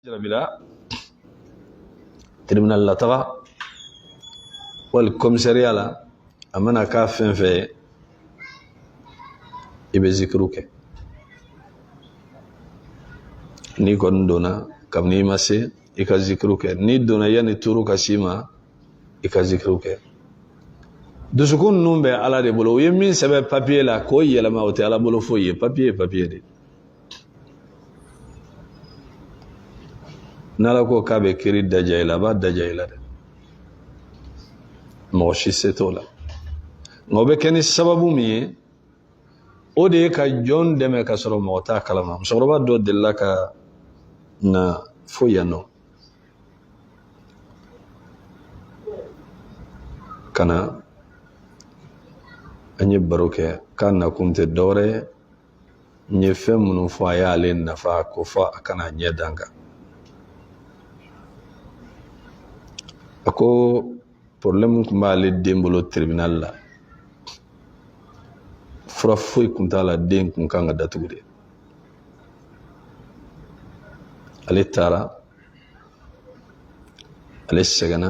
bila tribunal la taga wali kɔmisariya la a mana kɛ fɛn fɛn ye i bɛ zikiriw kɛ n'i kɔni donna kabini i ma se i ka zikiriw kɛ n'i donna yanni tuuru ka s'i ma i ka zikiriw kɛ dusukun ninnu bɛ ala de bolo u ye min sɛbɛn papiye la k'o yɛlɛma o tɛ ala bolo foyi ye papiye ye papiye de ye n'ala ko k'a bɛ kiri daja i la a b'a daja i la dɛ mɔgɔ si se t'o la nka o bɛ kɛ ni sababu min ye o de ye ka jɔn dɛmɛ ka sɔrɔ mɔgɔ t'a kalama musokɔrɔba dɔ delila ka na fo yan nɔ ka na an ye baro kɛ k'a nakun tɛ dɔwɛrɛ ye n ye fɛn minnu fɔ a y'ale nafa ko fo a ka na a ɲɛ da n kan a ko porobilɛmu kun b'ale den bolo tiribinali la fura foyi kun t'a la den kun kan ka datugu de ale taara ale sɛgɛnna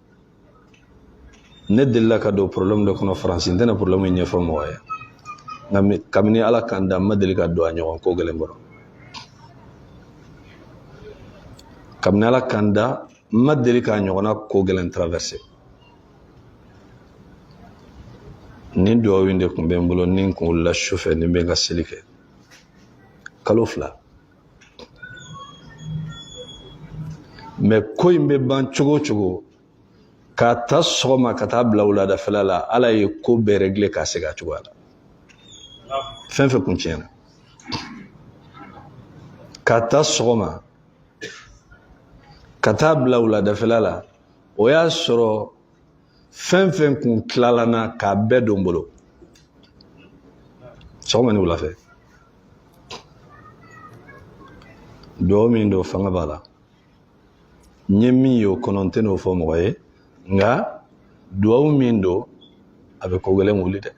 ne delila ka don problème dɔ kɔnɔ faransi n tɛna problème in ɲɛfɔ mɔgɔ ye nka kabini ala ka n da n ma deli ka don a ɲɔgɔn ko gɛlɛn kɔrɔ kabini ala ka n da n ma deli k'a ɲɔgɔnna ko gɛlɛn traverse nin duwawu in de kun bɛ n bolo ni n kun wulila sufɛ ni n bɛ n ka seli kɛ kalo fila mɛ ko in bɛ ban cogo o cogo k'a ta sɔgɔma ka taa bila wuladafɛla la ala ye ko bɛɛ rɛgile k'a segin a cogoya la fɛn fɛn kun tiɲɛna k'a ta sɔgɔma ka taa bila wuladafɛla la o y'a sɔrɔ fɛn fɛn kun tilala na k'a bɛɛ don n bolo sɔgɔma ni wulafɛ dugawu min don fanga b'a la n ye min ye o kɔnɔ n tɛn'o fɔ mɔgɔ ye nka dugawu min don a bɛ ko gɛlɛn wuli dɛ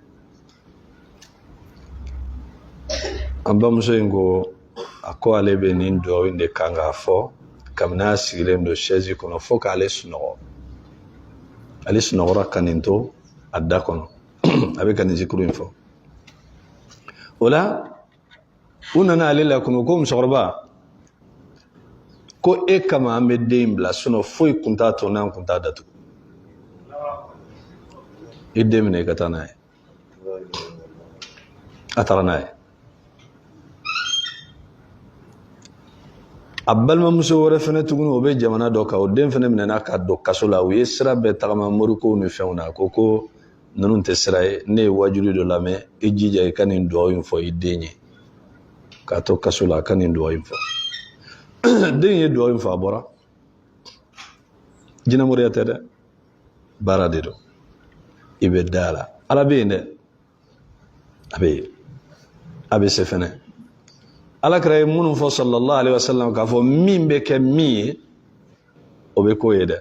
an bamuso in ko a ko ale bɛ nin dugawu in de kan k'a fɔ kabini a sigilen don sɛzi kɔnɔ fo k'ale sunɔgɔ ale sunɔgɔra ka nin to a da kɔnɔ a bɛ ka nin zikiri in fɔ o la u nana ale la kunu ko musokɔrɔba ko e kama an bɛ den in bila sinon foyi kun t'a to n'an kun t'a datugu i den minɛ i ka taa n'a ye a taara n'a ye a balimamuso wɛrɛ fɛnɛ tuguni o bɛ jamana dɔ kan o den fɛnɛ minɛna ka don kaso la u ye sira bɛɛ tagama morikow ni fɛnw na ko ko ninnu tɛ sira ye ne ye waajuli dɔ lamɛn i jija i ka nin dugawu in fɔ i den ye k'a to kaso la a ka nin dugawu in fɔ den ye dugawu in fɔ a bɔra jinɛmoriya tɛ dɛ baara de don i bɛ da a la ala bɛ yen dɛ a bɛ yen a bɛ se fɛnɛ ala kira ye minnu fɔ sallallahu alaihi wasallam k'a fɔ min bɛ kɛ min ye o bɛ k'o ye dɛ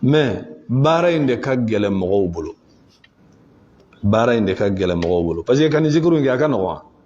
mais baara in de ka gɛlɛn mɔgɔw bolo baara in de ka gɛlɛn mɔgɔw bolo parce que ka nin zikuru in kɛ a ka nɔgɔn wa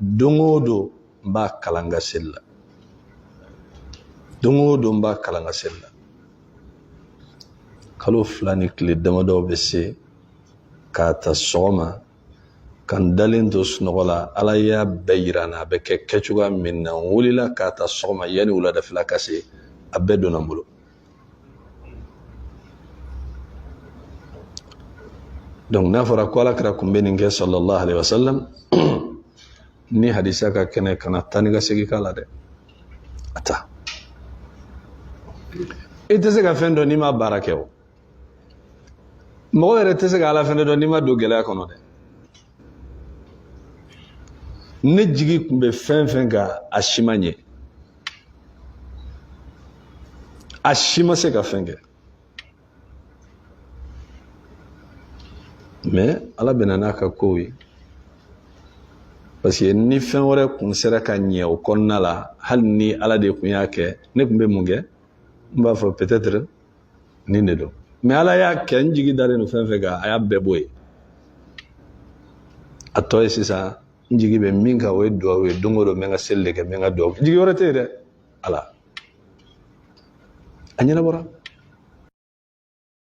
don o don n b'a kalan n ka seli la don o don n b'a kalan n ka seli la kalo fila ni kile damadɔ bɛ se k'a ta sɔgɔma ka n dalen to sunɔgɔ la ala y'a bɛɛ yira n na a bɛ kɛ kɛcogoya min na n wulila k'a ta sɔgɔma yanni wuladafɛla ka se a bɛɛ donna n bolo donc n'a fɔra ko ala kira kun bɛ nin kɛ sallallahu alaihi wasallam ni hadisa ka kɛnɛ kana taa ni ka segin k'a la dɛ a ta i tɛ se ka fɛn dɔn n'i ma baara kɛ o mɔgɔ yɛrɛ tɛ se ka ala fɛnɛ dɔn n'i ma don gɛlɛya kɔnɔ dɛ ne jigi kun bɛ fɛn fɛn kan a si ma ɲɛ a si ma se ka fɛn kɛ mais ala bɛ na n'a ka kow ye parce que ni fɛn wɛrɛ kun sera ka ɲɛ o kɔnɔna la hali ni ala de kun y'a kɛ ne kun bɛ mun kɛ n b'a fɔ nin de don mais ala y'a kɛ n jigi dalen don fɛn fɛn kan a y'a bɛɛ bɔ yen a tɔ ye sisan n jigi bɛ min kan o ye duwawu ye don o don n bɛ n ka seli de kɛ n bɛ n ka duwawu jigi wɛrɛ tɛ yen dɛ ala a ɲɛnabɔra